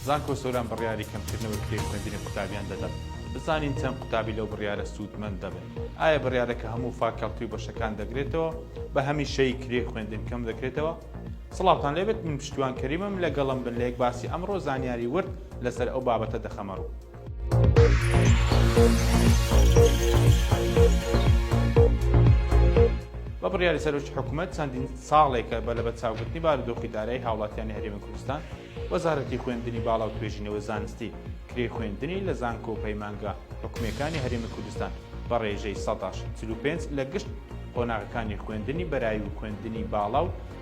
زانکۆ سۆران بڕیاری کەمکردنەوەی کرێی خوێندنی قوتابیان دەدەن بزانین چەند قوتابی لەو بڕیارە سوودمەند دەبن ئایا بڕیارەکە هەموو فاکەڵتی و بەشەکان دەگرێتەوە بە هەمیشەی کرێی خوێندن کەم دەکرێتەوە سڵاوتان لێبێت من پشتیوان کەریمم لەگەڵم بن لە یەک باسی ئەمڕۆ زانیاری ورد لەسەر ئەو بابەتە دەخەمەڕوو بە بڕیاری سەرۆکی حکوومەت چەندین ساڵێکە بە لە بەچاوگرتنی بارودۆخی دارایی هاوڵاتیانی هەرێمی کوردستان وەزارەتی خوێندنی باڵا و توێژینەوە زانستی کرێ خوێندنی لە زانکۆ و پەیمانگە حکومەکانی هەرێمی کوردستان بە ڕێژەی 1940 لە گشت قۆناغەکانی خوێندنی بەرای و خوێندنی باڵا و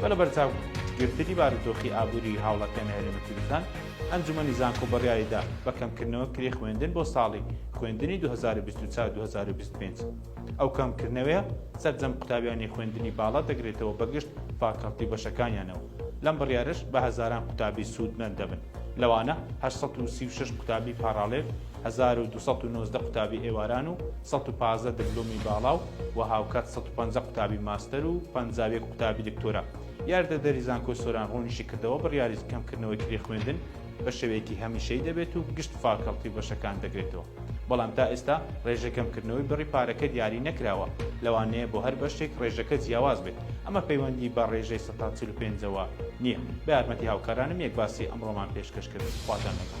بە لەبەرچاو گرتنی بارودۆخی ئابووریی هاوڵاتیانی هەرێمی کوردستان، ئەنجوومەنی زانکۆ بڕیاری دا بە کەمکردنەوە کرێی خوێندن بۆ ساڵی خوێندنی دوو هەزار و بیست و چوار دوو هەزار و بیست و پێنج. ئەو کەمکردنەوەیە سەرجەم قوتابیانی خوێندنی باڵا دەگرێتەوە بە گشت فاکەڵتی و بەشەکانیانەوە. لەم بڕیارەش بە هەزاران قوتابی سوودمەند دەبن. لەوانە هەشت سەد و سی و شەش قوتابی پاڕاڵێل، هەزار و دوو سەد و نۆزدە قوتابی ئێواران و سەد و پازدە دبلۆمی باڵا و و هاوکات سەد و پەنجا قوتابی ماستەر و پەنجا و یەک قوتابی دکتۆرا. یاردەدەری زانکۆی سۆران ڕوونیشی کردەوە، بڕیاری کەمکردنەوەی کرێی خوێندن بە شێوەیەکی هەمیشەیی دەبێت و گشت فاکەڵتی و بەشەکان دەگرێتەوە، بەڵام تا ئێستا ڕێژەی کەمکردنەوەی بڕی پارەکە دیاری نەکراوە، لەوانەیە بۆ هەر بەشێک ڕێژەکە جیاواز بێت، ئەمە پەیوەندی بە ڕێژەی هەتا چل و پێنج ەوە نیە. بە یارمەتی هاوکارانم یەک باسی ئەمڕۆمان پێشکەش کرد خواتان لەگەڵ.